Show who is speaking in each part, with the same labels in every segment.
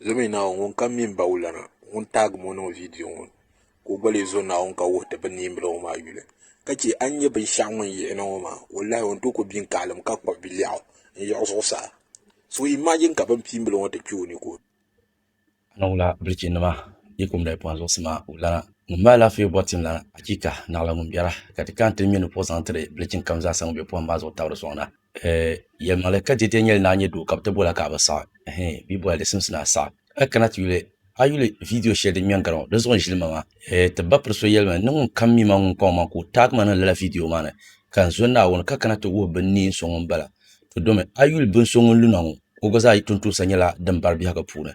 Speaker 1: Zo mi naawuni ŋun kam mi m-ba wulana ŋun taagi ma o niŋ vidiyo ŋɔ ni. ka o gba lee zo Naawuni ka wuhi ti bi niimbila ŋɔ maa yuli ka chɛ a ni nyɛ binshɛɣu ŋun yihi na ŋɔ maa wallaahi o ni tooi ku biŋ kaalim ka kpuɣi bilɛɣu n-yiɣi zuɣusaa so imaajin ka binkpiimbila ŋɔ ti kpe o ni ka o Annaŋula
Speaker 2: bilichinnima, yi kum daa pɔhim zuɣusi maa wulana, ŋun mi alaafee bɔri tim lana, achiika! Naɣila ŋun biɛra, ka ti ka n-ti ŋme ni puɣi zaŋ tiri bilichin kam zaasa ŋun be pɔhim maa zuɣu tabiri sɔŋ na. Eh, yɛlimaŋli ka dɛdɛ nyɛli ni a nyɛ doo ka bɛ ti boli a ka a bi saɣi. Ɛhɛn, bɛ yi boli a di simsi ni a saɣi. A kana ti yuli, a yuli vidiyo shɛli din ŋmɛ n-gari ŋɔ, di zuɣu n-ʒili ma maa. Eh, ti ba piri so yɛli ma ni ŋun kam mi ma ŋun kɔŋ ma ka o taagi ma niŋ lala vidiyo maa ni, ka n zo Naawuni ka kana ti wuhi bɛ ni neen so ŋun bala. Ti domi, a yuli bin so ŋun lu na ŋɔ, o gba zaa yi tontoosa nyɛla din bari biɛhigu puuni.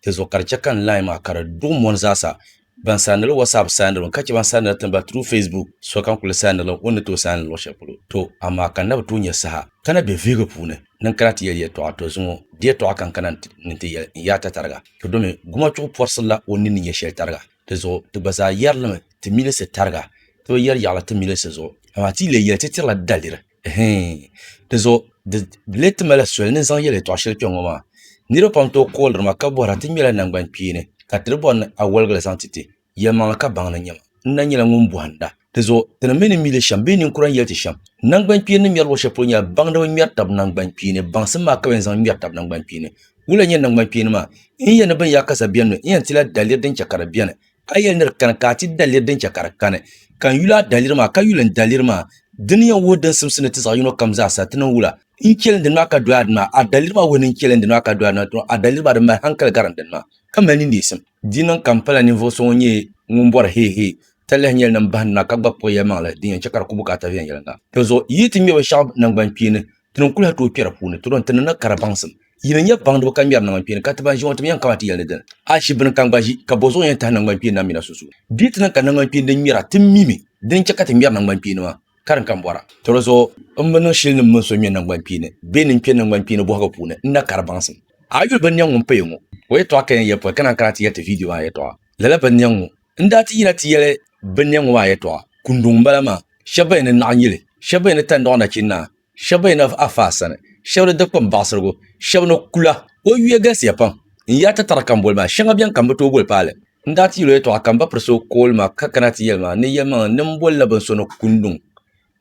Speaker 2: Di zuɣu ka di chɛ ka n lahi ma ka di duɣi mɔni zaasa Ban saaniri WhatsApp saanirimi ka chɛ ban saaniri tini ba through Facebook, sokam kuli saanirila o ni tooi saani luɣ shɛli polo. To, amaa ka n na bi tooi nya saha ka na be vihigu puuni ni n kana ti yɛli yɛtɔɣa, to zuŋɔ di yɛtɔɣa ka n kana ni n-ti yɛli n yaa ta tariga. To domi gumachuɣu pɔrisirila o nini yɛ shɛli tariga. Di zuɣu ti gba zaa yɛrilimi ti milisi tariga, ti bi yɛri yaɣili ti milisi zuɣu, amaa ti yi leei yɛli ti tirila daliri. Hɛɛn. Dizuɣu di leei ti mali soli ni zaŋ yɛl yɛtɔɣ shɛli kpɛŋŋɔ maa. Niriba pam tooi kooliri ma ka bɔhira ti ŋmɛla naŋgbankpeeni ka ti di bɔri ni a wɔligila zaŋ ti ti. Yɛlimaŋli ka baŋ ni nyɛ ma n na nyɛla ŋun bɔhinda. Dizuɣu ti ni mi ni mi li shɛm bee ninkura ni yɛli ti shɛm. Naŋgbankpeeni ni ŋmɛri luɣishɛli polo nyɛla baŋdiba ŋmɛri tab naŋgbankpeeni. Baŋsim maa ka bɛ yɛn zaŋ ŋmɛri tab naŋgbankpeeni. Wula n-nyɛ naŋgbankpeeni maa? N yɛn ni binyaakaza bɛn mi, n yɛn tila daliri din chɛ ka di beni. Ka yɛli ni di kani ka a ti daliri din chɛ ka di kani, ka n yuli a daliri maa, ka yuli n daliri maa. Di ni yɛn wuhi din simsi ni ti zaɣ yino kam zaa sa, ti niŋ wula? N chɛli n dini maa ka doya dini maa, a daliri maa wuhi ni n chɛli n dini maa ka doya dini maa, dama a daliri maa di mali hankali gari n dini maa, ka mali nindeesim. Di niŋ ka m pala ninvuɣ so ŋun nyɛ ŋun bɔri heehee, talahi nyɛli ni m bahi nina ka gba kpuɣi yɛlimaŋli din yɛn chɛ ka di ku bukaata viɛnyɛliŋga. Dinzuɣu, yi yi ti ŋmɛ binshɛɣu naŋgbankpeeni Ti ni kuli ha tooi kpɛri puuni, ti dɔn ti ni na kara baŋsim. Yi ni nyɛ baŋdiba ka ŋmɛri nangbankpeeni ka ti ban ʒi ŋɔ, ti mi yɛn kama ti yɛli ni dini? A shi bini ka n gba ʒi, ka bɔ zuɣu yɛn tahi nangbankpeeni na mi na sunsuuni? Di yi ti niŋ ka nangbankpeeni din ŋmɛra ti mi mi, dini n-chɛ ka ti ŋmɛri nangbankpeeni maa? Karim ka n bɔra. Tɔlɔzuɣu, m bi niŋ shili ni m mini so ŋmɛ nangbankpeeni bee ni n kpe nangbankpeeni bɔhigu puuni, n na kari baŋsim. A yuli binniɛŋ ŋun paya ŋɔ? O yɛtɔɣa ka yɛn yɛli pɔi, ka naan kana ti yɛli ti viidiyo maa yɛtɔɣa. Lala binniɛŋ ŋɔ N daa ti yina ti yɛli binniɛ ŋɔ maa yɛtɔɣa kunduŋ m-bala maa, Shɛba ba yi ni naɣ yili, shɛba ba yi ni tandɔɣi nachin'naa, shɛba ba yi ni a faa sani, shɛba ni dikpini baɣisirigu, shɛba ni kula. O yuya galisiya pam. N yaa tatara ka m boli ma, shɛŋa beni ka m bi tooi boli paali. N daa ti yɛl o yɛtɔɣa ka m ba piri so kooli ma ka kana ti yɛli ma ni yɛlimaŋli ni m bolila bini so ni kunduŋ,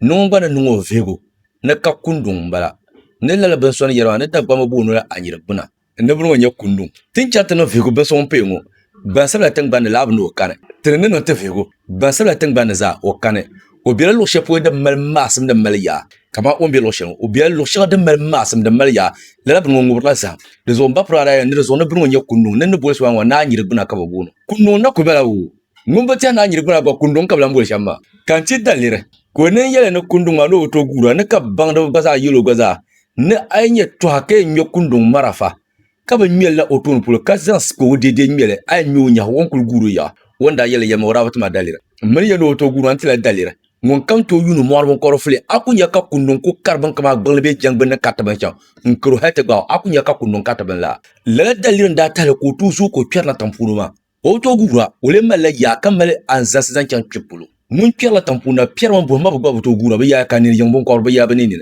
Speaker 2: ni ŋun gba ni niŋ o vihigu ni ka kunduŋ m-bala, ni lala bini so ni yɛli ma ni Dagbamba booni o la Anyirigbuna. Niriba ŋɔ nyɛ kundu ti ni chaŋ ti niŋ vihigu bin so ŋun paya ŋɔ gbansabila tingbanni laa bi ni o kani ti ni ni niŋ ti vihigu gbansabila tingbanni zaa o kani o bela luɣ'shɛli polo din mali maasim din mali yaa kamani o ni be luɣ'shɛli ŋɔ o bela luɣ'shɛŋa din mali maasim din mali yaa lala bini ŋɔ ŋubirila zahim di zuɣu m ba pirigaadaa yɛn ni di zuɣu ni bini ŋɔ nyɛ kunduŋ ni ni boli so maa ŋɔ naa nyiri gbuna ka bɛ booni kunduŋ na kuli bala wuu Ŋun bi tɛhi naa nyiri gbuna gba kunduŋ ka bi lan boli shɛm maa. Ka n ti daliri ka o nin yɛli ni kunduŋ maa ni o bi tooi guura ni ka baŋdiba gba zaa yɛl o gba zaa ni a yi nyɛ tɔha ka yɛn ŋme kunduŋ marafa ka bi ŋme li na o tooni polo ka zaŋ sipɔgu deedee ŋme li a yɛn ŋme o nyahi o ni kuli guuri yaɣa o ni daa yɛli yɛlima o daa bi ti ma daliri m mini ya ni o tooi guuri maa n ti lahi daliri ŋunkam tooi yuuni mɔɣiri binkɔbiri fuli a ku nya ka kunduŋ ku kari binka maa gbiŋli bee jɛŋ gbinni kariti bini chaŋ n karo hali ti gbaai o a ku nya ka kunduŋ kariti bini laa lala daliri n daa tahili ka o tooi zooi ka o kpɛri na tiŋ puuni maa. O bi tooi guura, o lee malila yaa ka mali anzalisi zaŋ chaŋ kpib polo. Ŋun kpɛrila tiŋpuuni na piɛri mini buɣim maa bi gba bi tooi guura, bɛ yaaya ka a nini yiŋ biŋkɔbiri bɛ yaa bɛ ninni.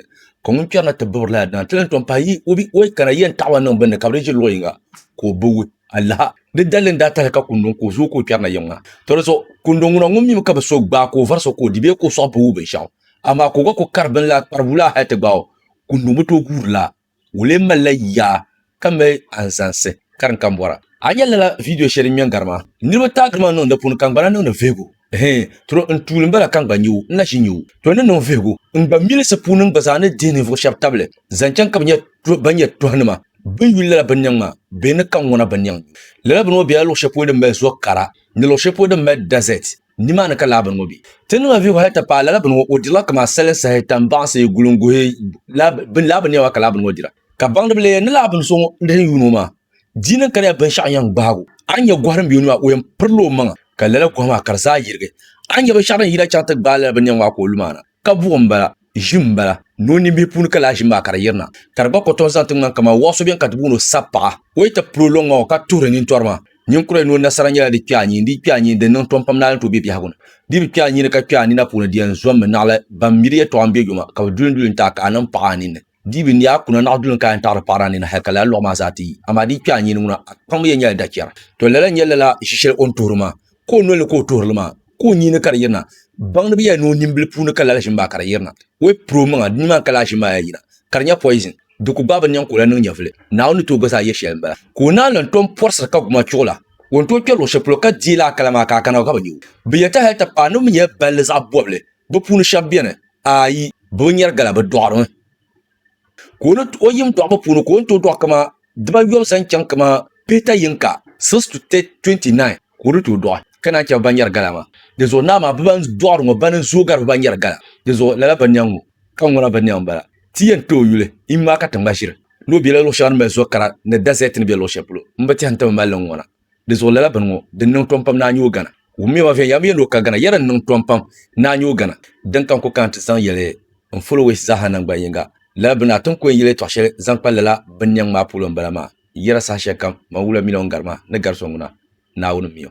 Speaker 2: Ka ŋun kpɛri na ti bibiri lala dina nti lan tom pahi yi o bi o yi kana yɛn taɣi o a niŋ bini ni ka bɛ di ʒiri luɣ yiŋga ka o bi wi a laha. Di daliri n-daa tahili ka Kundo n-ku o zuɣu ka o kpɛri na yiŋ maa. Tɔ di zuɣu Kundo ŋuna ŋun mimi ka bi so gbaai ka o vari so ka o di bee ka o sɔɣi bi wi binshɛɣu, amaa ka o gba ku kari bini la kparibu laa hal ti gbaai o, Kundo bi tooi guuri laa. Ŋun lee mali la yaa ka mali anzansi karin kambɔra. A nya lala vidio shɛli din ŋmɛ n-gari maa? Niriba taai giri ma n-niŋ di puuni ka n-gbana niŋdi vihigu. Hee, tro n tuuli m-bala ka n gba nyu, n na ʒi nyu. To ni niŋ vihigu, n gba milisi puuni n gba zaa ni dihi ninvuɣ shɛb tabili zaŋ chaŋ ka bɛ nya ban nyɛ tɔhinima bɛn yuli lala binnɛŋ maa bee ni ka ŋuna binnɛŋ nyu. Lala bini ŋɔ bela luɣ shɛli polo din mali zo kara ni luɣ shɛli polo din mali dazɛt. Nimaani ka lala bini ŋo bɛ. Ti niŋla vihigu hali ti paai lala bini ŋo, o dirila kaman sali sahi tan baŋsi gulim guhi lala bini niɛma ka lala bini ŋo dira. Ka baŋdiba leei ni lala bini so ŋun dini yuun o maa dii niŋ ka di yaa binshɛɣu yɛn gbaag o. A ni nya gohi din be o ni maa, o yɛn pirila o maŋa, ka lala gohi maa ka di zaa yirigi. A ni nya binshɛɣu din yina chaŋ ti gbaai lala bini niɛma maa ka o lu maa na. Ka buɣi m-bala, ʒi m-bala, ni o nimbihi puuni ka lahi ʒi maa ka di yirina, ka di gba kɔtom zaŋ ti ŋmani kaman wɔɣ so beni ka ti booni o sapaɣa. O yi ti pili o lɔŋŋa ŋɔ ka tuhiri nintɔri maa, ninkura yi ni o nasara nyɛla di kpɛɣu nyini, di kpɛɣu nyini, di niŋ tɔm pam naali ni ti o be biɛhigu ni. Di bi kpɛɣu nyini ka kpɛɣu nina puuni di yɛn zɔmmi naɣila ban miri yɛtɔɣa m-be yoma, ka bɛ duli n-duli n-ti a ka a niŋ paɣa a ninni. Di bi ni a kuna naɣ duli n ka yɛn taɣiri paɣiri a nini hal ka lala lɔɣu maa zaa ti yi. Amaa di kpɛɣu nyini ŋuna, a kpaŋmi yɛn nyɛla dachɛra. Tɔ! Lala n-nyɛ lala ʒi shɛli o ni tuhiri maa, ka o noli ni ka o tuhiri li maa, ka o nyini ka di yirina. Baŋdi bi yɛli ni o nimbili puuni ka lala ʒini maa ka di yirina. O yi piri omaŋa, di nimaani ka lala ʒini maa yaa yina, ka di nyɛ poison. Di ku gbaai bi niɛŋ ka o lahi niŋ nyɛvili. Naawuni ni tooi gba zaa yɛli shɛli m-bala. Ka o naan lan tom pɔrisiri ka guma chuɣu la, o ni tooi kpɛri luɣ shɛli polo ka deei lala kala maa ka a kana o ka bi nya o. Bɛ yɛlita hal ti paai ni bɛ mi nyɛla balli zaɣ bɔbili Bɛ puuni shɛba beni, ayi, bɛ bi nyari gala, bɛ dɔɣirimi. Ka o ni o yim dɔɣibu puuni ka o ni tooi dɔɣi kaman dibaayɔbu zaŋ chaŋ kaman peta yinka, six to twenty-nine, ka o ni tooi dɔɣi ka naan chɛ bɛ ban nyari gala maa. Dinzuɣu naa maa bɛ ban dɔɣiri ŋɔ bana n-zooi gari bɛ ban nyari gala. Dinzuɣu lala bɛ niɛŋ ŋɔ, ka ŋuna bɛ niɛŋ m-bala. Ti yɛn ti o yuli, iŋ maa ka ti ŋma ʒiri ni o bela luɣ shɛŋa ni mali zo kara ni dazɛɛti ni be luɣ shɛli polo. M bi tɛhi nti bi mali li n-ŋuna. Di zuɣu lala bini ŋɔ din niŋ tɔmpam ni a nyoo gana. Wummioma viɛnyɛla mi yɛn ni o ka gana, yɛda n niŋ tɔmpam ni a nyoo gana. Din ka n ku kana ti zaŋ yɛli n followers zaaha naŋgban yiŋga, lala bini a ti ni ku yɛn yɛli tɔɣ shɛli zaŋ kpa lala bini niɛŋ maa puulo m-bala maa, yɛda saha shɛlikam, Mawula Miliɔn Garima ni gari so ŋuna, Naawuni mi o.